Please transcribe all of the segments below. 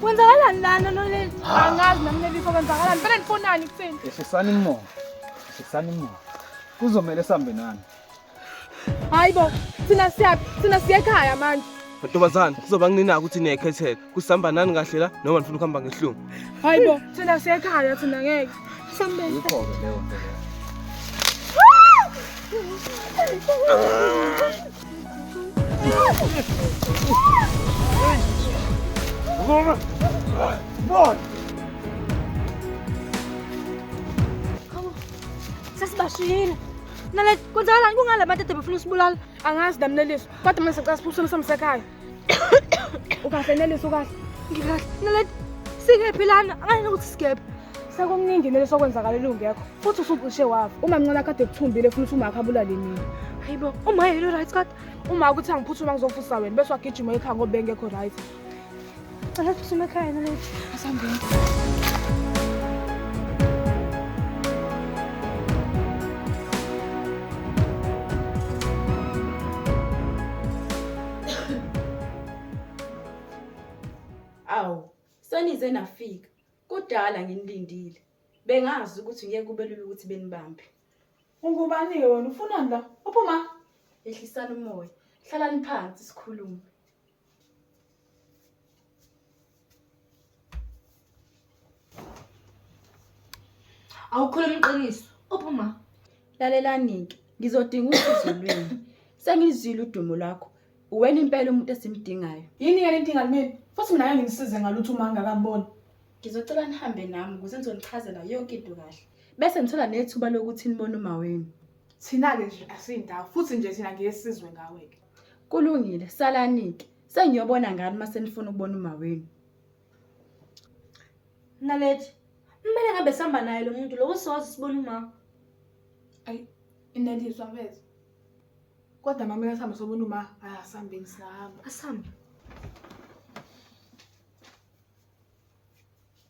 Kwenzakalani lana noleli? Angazi nami leli fo kwenzakalani. Phela nifonani kuthini? Ehlisani imoya. Ehlisani imoya. Kuzomela sambe nani. Hayibo, thina siya thina siya ekhaya manje. Ntombazana, kuzoba kunina ukuthi niyekhethela. kusihamba nani kahle la noma nifuna ukuhamba ngehlungu hayi bo thina siyekhaya thina ngeke sambeni ikhona leyo nto Vamos! Bora! Sasibashiyile. Nale kwenzakalani kungala bantu ade befuna usibulala? Angazi damleliso. Kodwa manje sicela siphuswe umsekhaya. ukahle nelisa ukahle ngikahle naledi sikephi lana angayena ukuthi sikephi sekuningi nele sokwenzakala elungekho futhi usucishe wafa uma mncane akade ekuthumbile funa ukuthi umakhe abulale mina hayi bo uma yelo right kade uma ukuthi angiphuthuma ngizofusa wena bese wagijima ekhaya ngoba bengekho right Cela üstüme kaynana. Hasan Bey. Awu, senize nafika. Kudala nginilindile. Bengazi ukuthi ngeke kube lula ukuthi benibambe. Ungubani-ke wena ufunani la uphuma Yehlisani umoya. Hlalani phansi sikhulume. awukhuluma iqiniso uphuma lalelani-ke ngizodinga usizo lwenu sengizwile udumo lwakho uwena impela umuntu esimdingayo yini yena inkinga kumina futhi mina ngeke ngimsize ngalutho uma ngingakamboni ngizocela nihambe nami ukuze nizonichazela yonke into kahle bese ngithola nethuba lokuthi nibone uma wenu thina-ke nje asiyindawo futhi nje thina ngeke sizwe ngawe-ke Kulungile, salanike. Sengiyobona ngani uma senifuna ukubona umawenu. Naledi, kumele ngabe sihamba naye lo muntu lowo siwazi sibona umama. Ayi, ineliswa mfethu. Kodwa mama uyasihamba sobona uma asihambeni singahamba. Asihambe.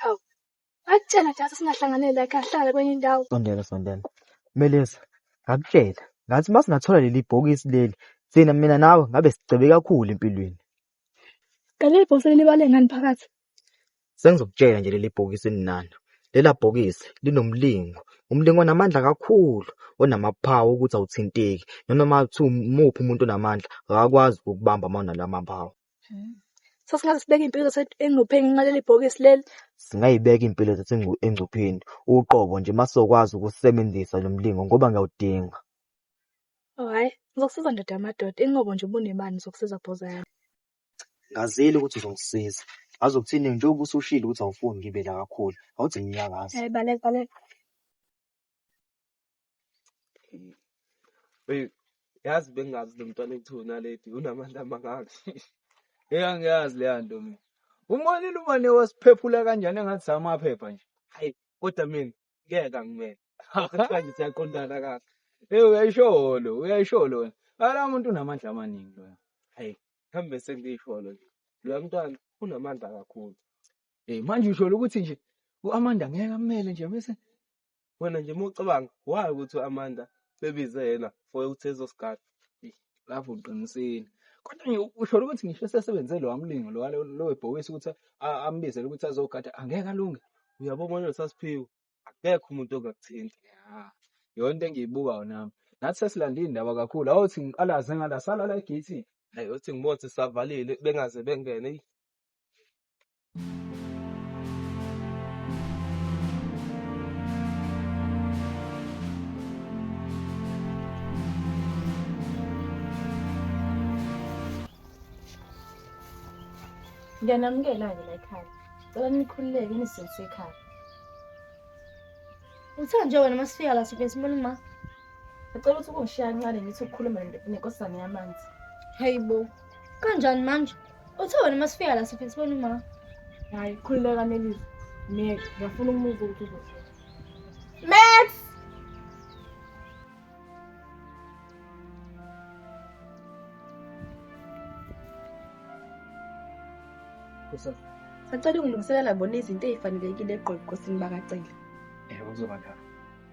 Hawu. Akutshela nje singahlanganela kahlala kwenye indawo. Sondela sondela. Meleza, ngakutshela. Ngathi uma singathola leli bhokisi leli, thina mina nawe ngabe sigcebe kakhulu empilweni. Kanti leli bhokisi libale ngani phakathi? Sengizokutshela nje leli bhokisi eninalo. Lela bhokisi linomlingo. Umlingo onamandla kakhulu, onamaphawu ukuthi awuthinteki. Noma uma kuthiwa umuphi umuntu onamandla, akakwazi ukukubamba uma unala maphawu. Hmm. So singaze sibeke impilo zethu engcupheni ngenxa leli bhokisi leli. Singayibeka impilo zethu engcupheni uqobo nje masokwazi ukusebenzisa lo mlingo ngoba ngiyawudinga. Oh hayi, ngizokusiza ndoda yamadoda. Inqobo nje ubunemali ngizokusiza bhoza yami. Ngazile ukuthi uzongisiza. Ngazi ukuthini njengoba usushilo ukuthi awufuni ngibe la kakhulu. Awuthi nginyakaza. Eh baleka baleka. Hey, yazi bengazi lo mntwana ekuthiwa unaledi unamandla amangaka. Hey, angiyazi leya nto mina. Umonile umane wasiphephula kanjani engathi samaphepha nje. Hayi, kodwa mina ngeke angimele. Kuthiwa nje siyaqondana kahle. Hey, uyayisholo, uyayisholo wena. Ala muntu unamandla amaningi loya. Hayi, hambe sengiyisholo nje. Loya mntwana unamandla kakhulu. Hey, manje usholo ukuthi nje u-Amanda ngeke amele nje bese wena nje uma ucabanga why ukuthi u-amanda bebize yena for ukuthi ezosigada lapho uqinisile kodwa nje usholo ukuthi ngisho esesebenze lo wamlingo lo wale- lo webhokisi ukuthi a- ambizele ukuthi azogada angeke alunge uyabo manje sasiphiwe akekho umuntu ongakuthinta ya yona into engiyibukayo nami nathi sesilanda iy'ndaba kakhulu awuthi ngiqalaze ngala salala egeyithini hayi uthi ngibothe savalile bengaze bengene eyi Ngiyanamukela-ke la ekhaya. Cela nikhululeke nisindise ekhaya. Uthe nje wena uma sifika la sifike sibone ma. Ngicela ukuthi kungishiya kancane ngithi ukukhuluma ne- nenkosana yamanzi. Hayi bo. Kanjani manje? Uthe wena uma sifika la sifike sibone umama. Hayi khululeka Nelisa. Mina ngiyafuna ukumuzwa ukuthi uzofika. Max! Sacela ungilungiselela bona izinto ezifanelekile egqonkosini bakacela. Ewe uzoba njalo.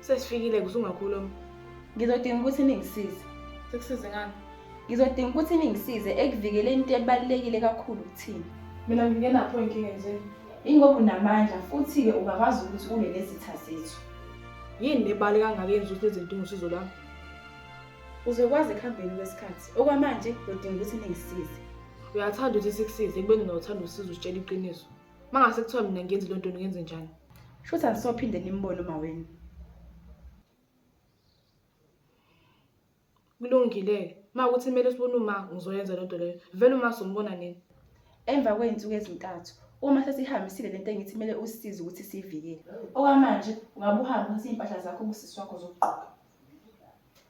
Sesifikile kusungakhuluma. Ngizodinga ukuthi ningisize. Sikusize ngani? Ngizodinga ukuthi ningisize ekuvikeleni into ebalulekile kakhulu kuthina. Mina ngingenapho inkinga nje. Ingoba unamandla futhi-ke ungakwazi ukuthi ulwe nezitha zethu. Yini lebali kangaka yenza ukuthi nezidinga usizo lwami? Uzokwazi ekuhambeni kwesikhathi. Okwamanje udinga ukuthi ningisize. Uyathanda ukuthi sikusize ekubeni nawuthanda usizo usitshela iqiniso. mangase kuthiwa mina ngenze lento ngenze njani shuthi angisophinde nimbone uma wenu kulungile ma ukuthi kumele sibone uma ngizoyenza lento leyo vele uma sombona nini emva kwey'nsuku ezintathu uma sesihambisile le nto engithi kumele usisize ukuthi siyivikele okwamanje ungabe uhambe uthathe iy'mpahla zakho ubusisi wakho zokugqoka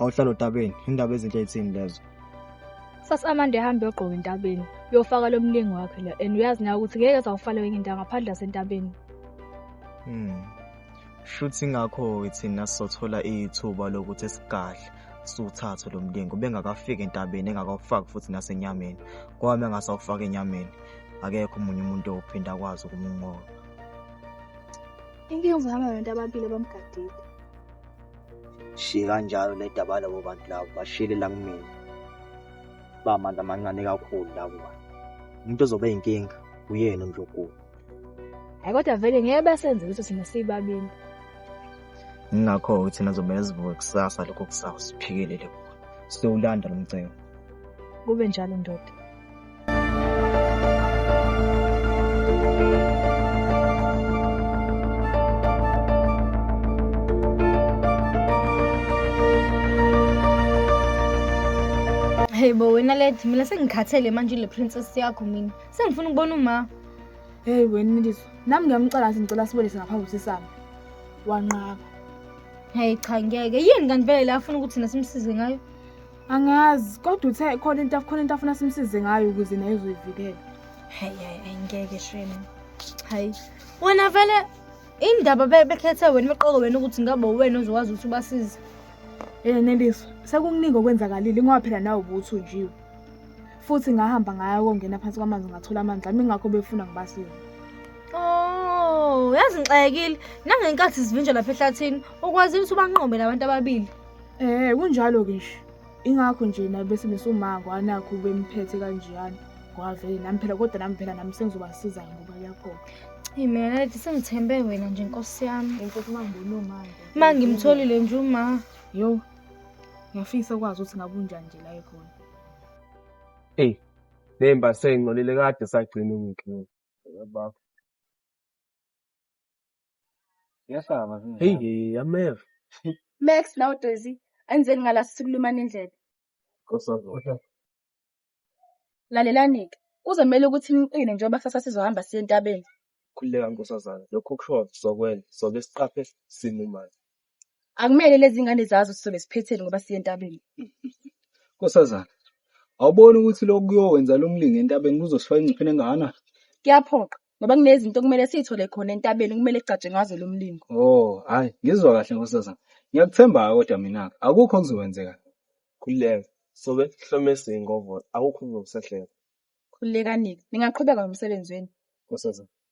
awuhlala otabeni indaba ezinhle ithini lezo sasi amande ehambe yogqoka entabeni uyofaka lo mlingi wakhe la and uyazi nayo ukuthi ngeke zawufale wenye indawo ngaphandle asentabeni hmm. shuthi ngakho-ke thina sizothola ithuba lokuthi esigadle siwuthathe lo mlingo bengakafiki entabeni engakawufaki futhi nasenyameni kwami engasawufaka enyameni akekho omunye umuntu owuphinda akwazi ukumnqoba inkinga uzohamba nabantu ababili abamgadile shiye kanjalo nedaba labo bantu labo bashiyele la kumina ba amandla amancane kakhulu la kuba umuntu ozobe inkinga uyena uNdlunkulu hayi kodwa vele ngeke basenze ukuthi sina sibabini ngakho uthi nazobe yazivuka kusasa lokho kusasa siphikelele kuwe siyowulanda lomcebo kube njalo ndoda Hey bo wena lady mina sengikhathele manje le princess yakho mina. Sengifuna ukubona uma. Hey wena Niliso, nami ngiyamcela ngathi ngicela sibolise ngaphambi kusesami. Wanqaba. Hey cha ngeke. Yini kanti vele la afuna ukuthi thina simsize ngayo? angazi kodwa uthe khona into khona into afuna simsize ngayo ukuze naye uzoyivikela hayi hayi ayingeke shame hayi wena vele indaba bekhethe wena imiqoko wena ukuthi ngabe wena ozokwazi ukuthi ubasize eh neliso sekukuningi okwenzakalile ingoba phela nawe ubuthi unjiwe futhi ngahamba ngaya kongena phansi kwamanzi ngathola amanzi ami ngakho befuna ngibasize oh yazi ngixakile nangenkathi sivinjwa lapha ehlathini ukwazile ukuthi ubanqobe labantu ababili Eh kunjalo ke nje. Ingakho nje naye bese mesumanga wanakho ubemphethe kanjeyana. Ngoba vele nami phela kodwa nami phela nami sengizobasiza ngoba kuyakhona. Hey mina lady sengithembe wena nje nkosi yami. Inkosi mangibona manje. Uma ngimtholile nje uma. Yo. Ngiyafisa ukwazi ukuthi ngabe unjani nje la ekhona. Hey. Nemba sengcolile kade sagcina ngikho. Baba. Siyasaba zingane. Hey, hey, ameva. Max nawe Daisy anizeni ngala sikulumana indlebe. Kosazoda. Lalelanike. Kuzomela ukuthi niqine njengoba kusasa sizohamba siye entabeni. Khululeka nkosazana. Lokho kushoyo sokwenza. Sobe siqaphe simo manje. Akumele lezi ingane zazo sizobe siphetheni ngoba siye entabeni. Nkosazana, awuboni ukuthi lokhu kuyokwenza lo mlingo entabeni kuzosifaka engcupheni engakanani? Kuyaphoqa ngoba kunezinto okumele siy'thole khona entabeni okumele kugcatshwe ngazo lo mlingo. Oh, hayi, ngizwa kahle nkosazana. Ngiyakuthemba-ke kodwa mina-ke, akukho okuzokwenzeka. Khululeka, sobe sihlome siyingovolo, akukho okuzokusehleka. Khululekani-ke, ningaqhubeka nomsebenzi wenu. Nkosazana,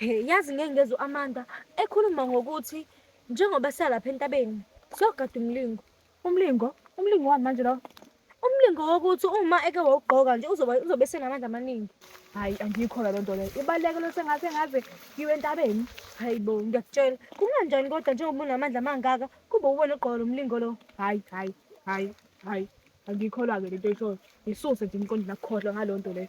Yazi ngeke ngezwe u-Amanda ekhuluma ngokuthi njengoba sisalapha entabeni siyogada umlingo. Umlingo? Umlingo wani manje lowo? Umlingo wokuthi uma eke wawugqoka nje uzoba uzobe senamandla amaningi. Hhayi angiyikholwa loo nto leyo. Ibaluleke loo sengathi engaze iwe entabeni. Hhayi bo ngiyakutshela. Kunganjani kodwa njengoba unamandla amangaka kube uwena ogqoka lo mlingo lo? Hhayi hhayi hhayi hhayi angiyikholwa-ke le nto oyishoyo. Yisuse nje emqondweni akukhohlwa ngaloo nto leyo.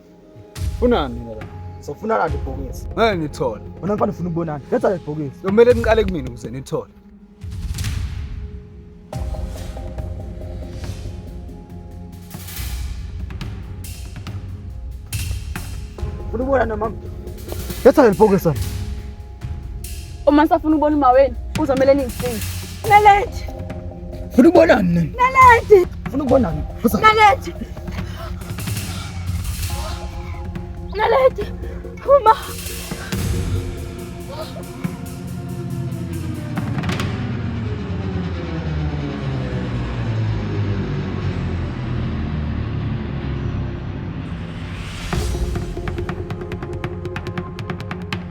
Funani mina la. Sofuna kanti ibhokisi. Ngeke ngithole. Wena mfana ufuna ukubonana. Letha le bhokisi. Kumele niqale kumina ukuze nithole. Ufuna ukubonana mama? Letha le bhokisi. Uma safuna ubona uma wenu uzomele ningisize. Nalethi. Funa ubona mina. Nalethi. Funa ubona mina. Nalethi. Nalethi. Uma.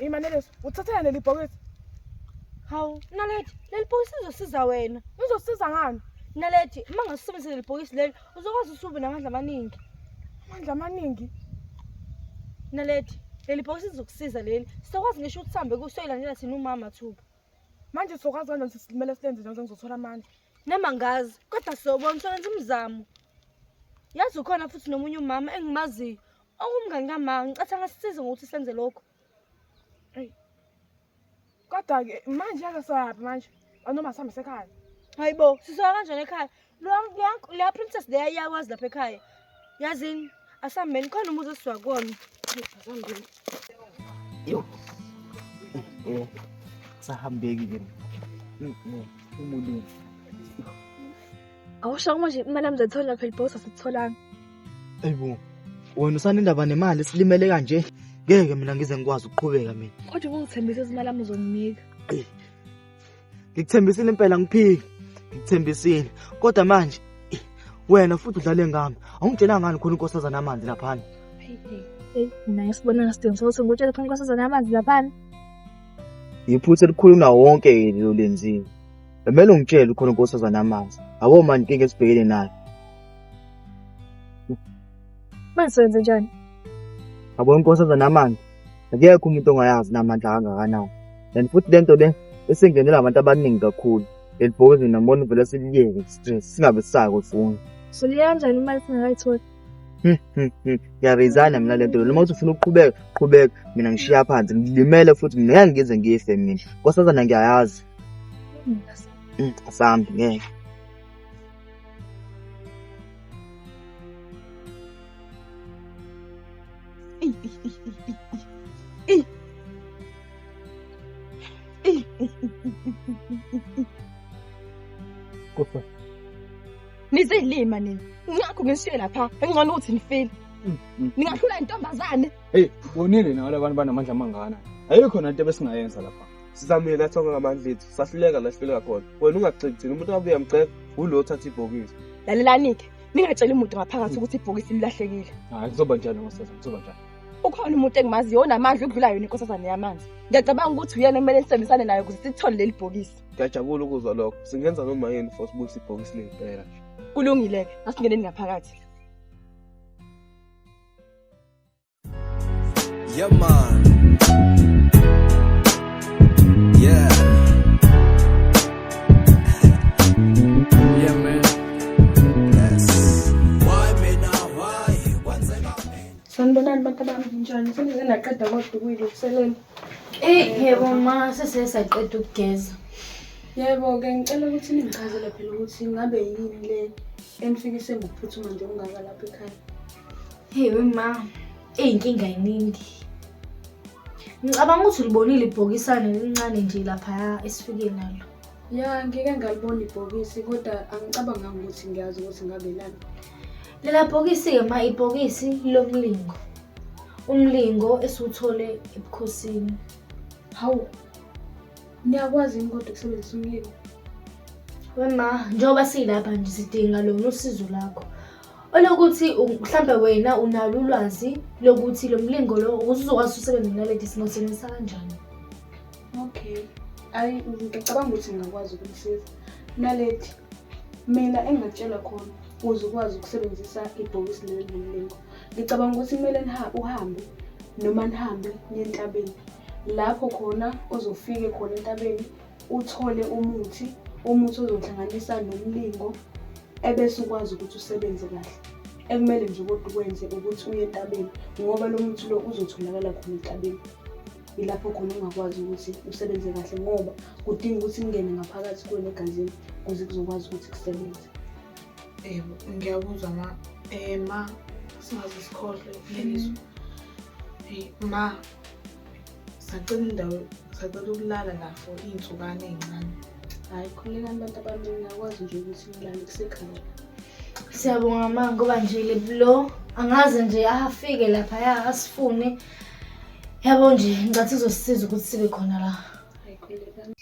Imaneleso, uthathela leli bhokisi. Hawu, Naledi, leli bhokisi lizosiza wena. Lizosiza ngani? Naledi, uma ngasisebenzisa leli bhokisi leli uzokwazi usubi namandla amaningi amandla amaningi nalethi leli bhokisi lizokusiza leli sizokwazi ngisho ukuthi sihambe kusoyilandela thina umama thuba manje sizokwazi kanjani ukuthi simele silenze njani ngizothola amandla nama ngazi kodwa sobona solenza umzamo yazi ukhona futhi nomunye umama engimaziyo ongumngani kamanga ngicathi angasisiza ngokuthi senze lokho kodwa-ke manje ake soyaphi manje anoma sihambise ekhaya hayi bo sisoya kanjani ekhaya leya princess leya iyakwazi lapha ekhaya yazini asihambeni khona umuzi esiwa kuwona sahambeki ke umuntu awusho kumanje imali yami zayithola phela ibhosa sitholanga Ayibo. Wena usanendaba nemali silimele kanje. Ngeke mina ngize ngikwazi ukuqhubeka mina. Kodwa ubungithembisa izimali ami uzonginika. Ngikuthembisile impela ngiphiki. Ngikuthembisile. Kodwa manje wena futhi udlale ngami. Awungitshelanga ngani khona inkosazana amanzi lapha. Hey, naye sibona ngesidingo sokuthi ngikutshele khona inkosazana amanzi lapha. Yiphutha elikhulu na wonke lelo lenzile. Bemele ungitshele khona inkosazana amanzi. Abo manje inkinga esibhekene nayo. Manje senze njani? Yabona inkosi enza namandla. Akekho umuntu ongayazi namandla kangakanani. And futhi lento le esingenela abantu abaningi kakhulu. Elibhozi nambona uvele siliyeke stress singabe sisako funi. Siliya kanjani imali singakayitholi? Ngiyarezana mina lento le. Noma uthi ufuna ukuqhubeka, qhubeka. Mina ngishiya phansi. Ngilimele futhi mina ngeke ngize ngife mina. Nkosazana ngiyayazi. Mm, Asambi ngeke. Kodwa nizilima nina ngakho ngishiye lapha engcono ukuthi nifile ningahlula intombazane hey bonile nawe labantu banamandla amangana ayikho nento ebesingayenza lapha sizamile nathonga ngamandla ethu sahluleka la sihluleka khona wena ungagxeki thina umuntu abuye amgxeka wulo othatha ibhokisi lalelani-ke ningatsheli muntu ngaphakathi ukuthi ibhokisi lilahlekile hayi kuzoba njani ngosasa kuzoba njani ukhona umuntu engimazi yona amandla ukudlula yona inkosazane yamanzi ngiyacabanga ukuthi uyena kumele nisebenzisane nayo ukuze sithole leli bhokisi ngiyajabula ukuzwa lokho singenza noma yini for sibuyise ibhokisi lempela kulungile-ke asingeneni ngaphakathi Yeah, man. Yeah. yeah, man. Yes. Why me now? Why? Kwenzeka mina. Sanibonani bantu bami njani? Senize naqeda kodwa ukuyilo kuselela. Eh, yebo ma sese saqeda ukugeza. Yebo ke ngicela ukuthi ningichazele phela ukuthi ngabe yini le enifikise ngokuphuthuma nje ungaka lapha ekhaya. Hey wema, eyinkinga yiningi. Ngicabanga ukuthi ulibonile ibhokisane elincane nje lapha esifike nalo. Ya, ngike ngalibona ibhokisi kodwa angicabanganga ukuthi ngiyazi ukuthi ngabe lani. Lela bhokisi-ke ma ibhokisi lomlingo. Umlingo esiwuthole ebukhosini. Hawu. Niyakwazi yini kodwa ukusebenzisa umlingo? Wema, njengoba silapha nje sidinga lona usizo lakho. Olokuthi mhlampe wena unalo ulwazi lokuthi lo mlingo lo ukuthi uzokwazi usebenza naledi singawusebenzisa kanjani. Okay. Ayi ngicabanga ukuthi ngingakwazi ukumsiza. Naledi mina engingatshelwa khona ukuze ukwazi ukusebenzisa ibhokisi leli lomlingo. Ngicabanga ukuthi kumele uhambe noma nihambe niye entabeni lapho khona ozofike khona entabeni uthole umuthi, umuthi ozohlanganisa nomlingo ebese ukwazi ukuthi usebenze kahle. Ekumele nje kodwa ukwenze ukuthi uye entabeni ngoba lo muthi lo uzotholakala khona entabeni. Ilapho khona ungakwazi ukuthi usebenze kahle ngoba kudinga ukuthi kungene ngaphakathi kuwena egazini ukuze kuzokwazi ukuthi kusebenze. Yebo, ngiyakuzwa ma eh, ma singaze sikhohlwe lelizwe. Mm. Ma sacela indawo sacela ukulala la for iy'nsukane ey'ncane hhayi khululekani abantu abaningi akwazi nje ukuthi nilale kusekhaya siyabonga ma ngoba nje lebulo angaze nje afike laphaya asifune yabo nje ngicathi izosisiza ukuthi sibe khona la hhayi khululekani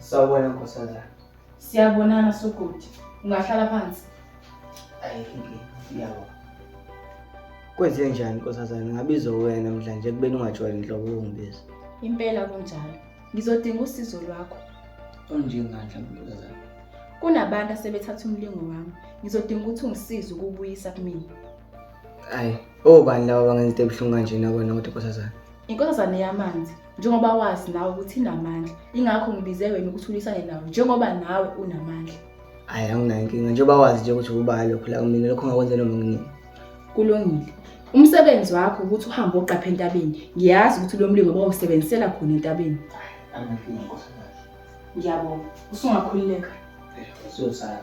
Sawubona nkosazana. Siyabonana Sugodi. Ungahlala phansi. Ayi ngiyabo. Kwenze njani nkosazana ngabiza wena mdla nje kubeni ungajwayele inhlobo yokungibiza. Impela kunjalo. Ngizodinga usizo lwakho. Onjengandla nkosazana. Kunabantu asebethatha umlingo wami. Ngizodinga ukuthi ungisize ukubuyisa kumina. Ayi, obani laba bangenza into ebuhlungu kanjena kwena kodwa nkosazana? Inkosazane yamanzi njengoba wazi nawe ukuthi inamandla ingakho ngibize wena ukuthi ulwisane nawe njengoba nawe unamandla hayi anginayo inkinga njengoba wazi nje ukuthi ubaya lokho la kumina lokho ngakwenze noma nginini kulungile umsebenzi wakho ukuthi uhambe oqapha entabeni ngiyazi ukuthi lo mlingo bawusebenzisela khona entabeni angakinga nkosikazi ngiyabonga usungakhululeka siyosala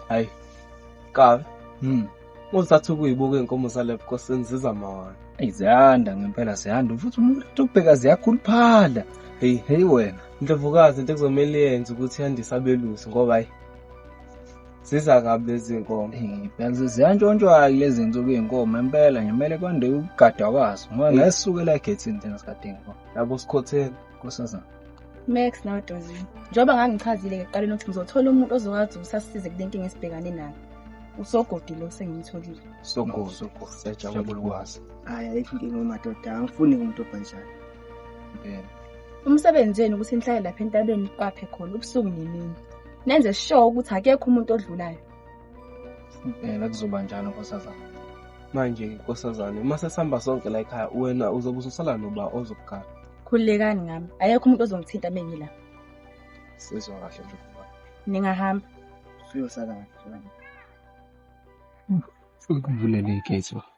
hayi kabi mm. uzathi ukuyibuka iy'nkomo zalapho kosini ziza mawana eyi ziyanda ngempela ziyanda futhi umuntu uthi ubheka ziyakhuluphala heyi heyi wena ndlovukazi into ekuzomele yenze ukuthi yandise abelusi ngoba hayi Ziza kabi lezi nkomo. Yazi ziyantshontshwa lezi nsuku izinkomo impela nje kumele kwande ukugadwa kwazo ngoba ngesukela egethini thina sikadinga ngoba Yabo sikhotheni. kusasana. Max nawe Dozini. Njengoba ngangichazile ekuqaleni ukuthi ngizothola umuntu ozokwazi ukuthi asisize kule nkinga esibhekane nayo. Usogodi lo sengimtholile. Sogozo sogozo siyajabula ukwazi. Hayi ayikho inkinga umadoda angifuni umuntu obhanjani. Impela. Umsebenzi wenu ukuthi nihlale lapha entabeni niqaphe khona ubusuku nemini. Nenze sure ukuthi akekho umuntu odlulayo. Impela kuzoba njalo nkosazana. Manje nkosazane uma sesihamba sonke la ekhaya wena uzobe ususala noba ozokugala. Khululekani ngami. Akekho umuntu ozongithinta uma ngila. Sizwa kahle nje kuba. Ningahamba. Siyosala kahle. Ukuvulele igate.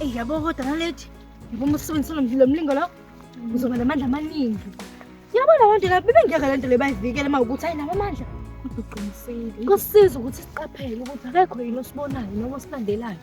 Eyi yabo kodwa nalethi yabo uma usebenzisa lo mlilo mlingo lo uzoba namandla amaningi. Yabo la bantu la bebengeke le nto le bayivikele uma ukuthi ayinabo amandla. Kodwa uqinisile. Kusiza ukuthi siqaphele ukuthi akekho yini osibonayo noma osilandelayo.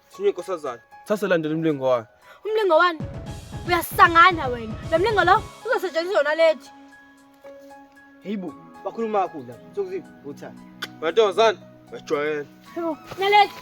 Sinywe inkosazana. Thatha landela umlingo wayo. Umlingo wani? Uyasangana wena. Lo mlingo lo uzosetshenziswa yona lethi. Heyibo, bakhuluma kakhulu la. Sokuziva uthanda. Mantombazane, ngajwayela. Heyibo, nalethi.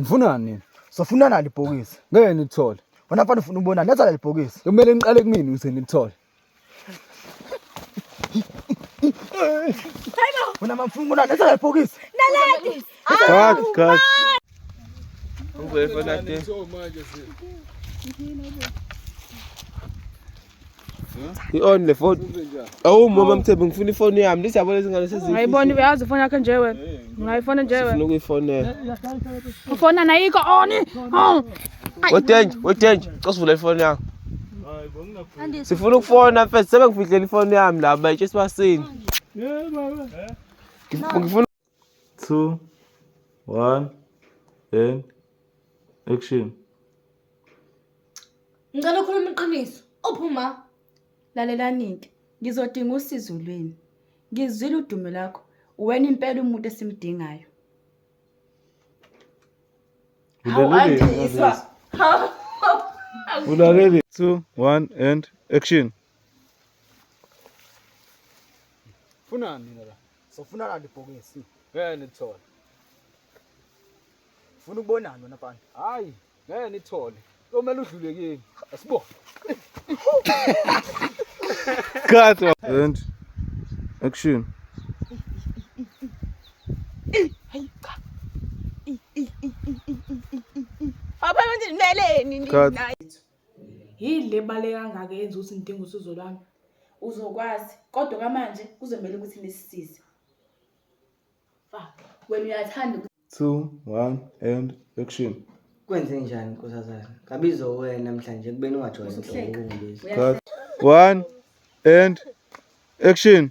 Ngifunani nini? Sofuna nalo ibhokisi. Ngeke nilithole. Wena mfana ufuna ubona neza leli bhokisi. Kumele niqale kumina ukuze nilithole. Hayibo. Wena mamfuna ubona neza leli bhokisi. Naledi. Cut, cut. Ubefona ke. Manje sisi. i-on le foni awu mama mthembe ngifuna ifoni yami lezi yabo lezi ngane sezingayibona uyazi ifoni yakhe nje wena ngayifona nje wena ukuyifonela ufona nayiko oni oh. wedenje wedenje cosivula ifoni yakho sifuna ukufona mfethu sebengifihlela ifoni yami la bayitshe sibasini ngifuna 2 1 and action Ngicela ukhuluma iqiniso. Uphuma. Lalelanike. Ngizodinga usizo lweni. Ngizwile udumo lakho. Wena impela umuntu esimdingayo. Hawu andiyiswa. Hawu. Ulalele 2 1 and action Funani nina la. Sofuna kanti ibhokisi. Ngeke nithole. Funa ukubonana wena mfana. Hayi, ngeke nithole. Komele udlule kimi. Asibone. Cut. And action. Hayi cha. Abanye nje meleni nina. Yini le ebaluleke kangaka eyenza ukuthi ngidinge usizo lwami? Uzokwazi, kodwa okwamanje kuzomele ukuthi nisisize. Fuck, wena uyathanda ukuthi two one and action Kwenze njani nkosazana? Ngabizo wena namhlanje kubeni ungajoyini Usuhleka. inhloko kulezi. Uyahleka. cut one and action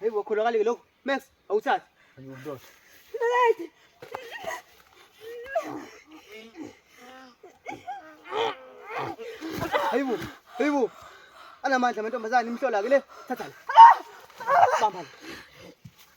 Hayi wakholakale lokho. Max awuthathi. Ayundoda. Hayi bo. Hayi bo. Anamandla amantombazane imhlola ke le. Thatha la. Bamba la.